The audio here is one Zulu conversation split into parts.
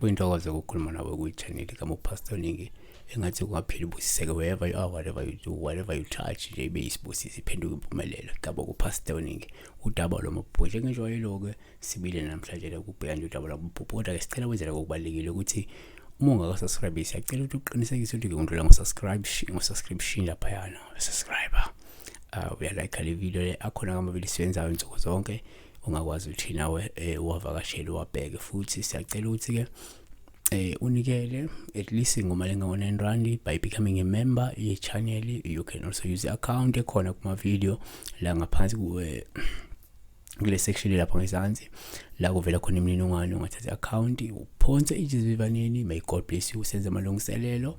kuyintokozo ukukhuluma nawe kuyichaneli kamupastor ningi engathi kungapheli ubusiseke wherever you are whatever you do whatever you touch nje ibe yisibusiso iphenduke impumelelo gaba kupastor ningi udaba lomabhuti engijwayelo-ke sibile namhlanje la kubheka nje udaba lwabuphupho kodwa-ke sicela wenzela kokubalulekile ukuthi uma ungakasubscribe siyacela ukuthi uqinisekise ukuthi-ke undlula ngo-subscription laphayana subscriber uh, ah, uyalike le video le akhona kamabili siwenzayo nsuku zonke ungakwazi ukuthi nawe um eh, uwavakashele uwabheke futhi siyacela ukuthi-ke eh unikele at least ngoma lenga-1 rand by becoming a member ye-channel you can also use i-account ekhona kuma-video la ngaphansi kuwe kule section lapha ngezansi la kuvela khona imininingwane ungathatha account uphonse ijizivivaneni may god bless you senze amalungiselelo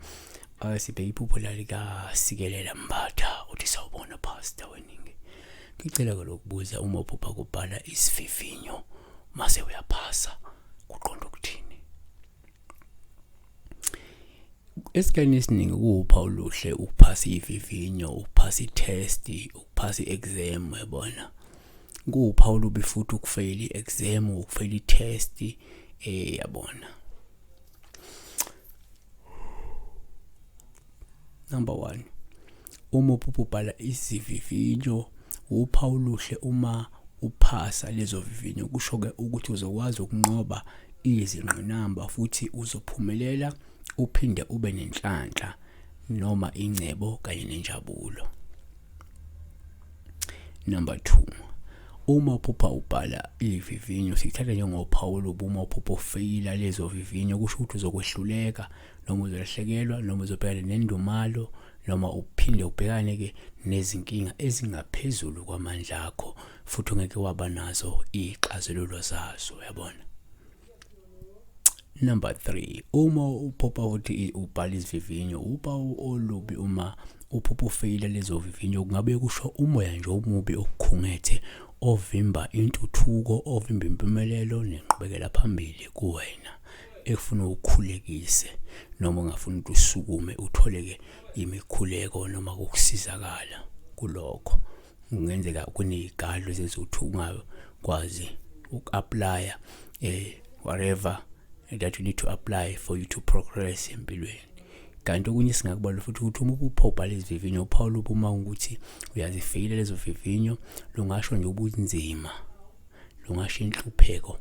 uh, sibheke iphupho lalikasikelela mbatha uthi sawubona pastor weningi ngicela ke lokubuza uma uphupha kubhala isivivinyo mase uyaphasa kuqonda ukuthini esikhathini esiningi kuwupha oluhle ukuphasa ivivinyo ukuphasa i-test ukuphasa i-exam yabona kuwupha olubi futhi ukufeyila i-exam ukufeyila i-test eh yabona Number 1. Uma ubhubhala isivivinyo uphawu luhle uma uphasa lezo vivinyo kusho ke ukuthi uzokwazi ukunqoba izingqinamba futhi uzophumelela uphinde ube nenhlanhla noma ingcebo kanye nenjabulo. Number 2. Uma uphupha ubhala ivivinyo sithatha njengophawu lobuma uphupho feyila lezo vivinyo kusho ukuthi uzokwehluleka noma uzolahlekelwa noma uzobhekana nendumalo noma uphinde ubhekane ke nezinkinga ezingaphezulu kwamandla akho futhi ungeke waba nazo ixazululo zazo uyabona number 3 uma uphupha ukuthi ubhala isivivinyo uba olubi uma uphupha ufeyila lezo vivinyo kungabe kusho umoya nje omubi okukhungethe ovimba intuthuko ovimba impumelelo nenqubekela phambili kuwena ekufuna ukhulekise noma ungafuna ukuthi usukume utholeke imikhuleko noma kokusizakala kulokho kungenzeka kuney'kalo ezenza ukuthi ungakwazi uku-aplaya um eh, whatever that you need to apply for you to progress empilweni kanti okunye singakubala futhi ukuthi uma uphobhala izivivinyo uphawula ubuma ukuthi uyazifikile lezo vivinyo lungasho nje ubunzima lungasho inhlupheko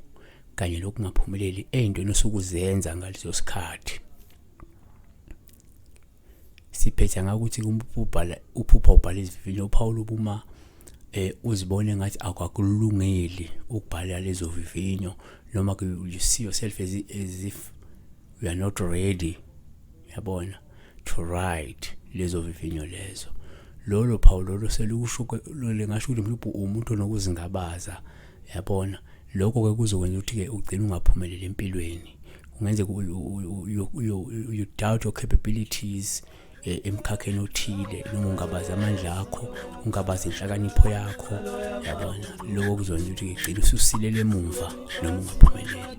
kanye nokungaphumeleli ey'ntweni osukuzenza ngaleso sikhathi siphetha ngakuthi ubhala uphupha ubhala izivivinyo uphawula ubuma eh uzibone ngathi akwakulungeli ukubhala lezo vivinyo noma you see yourself as, as if you are not ready yabona to write lezo vivinyo lezo lolo phawu lolo selusho lengasho ukuthi mhlawumbe umuntu onokuzingabaza yabona lokho ke kuzokwenza ukuthi ke ugcine ungaphumeleli empilweni kungenzeka you doubt your capabilities eh, emkhakheni othile noma ungabazi amandla akho ungabazi inhlakanipho yakho yabona lokho kuzokwenza ukuthi ngigcine ususilele emuva noma ungaphumeleli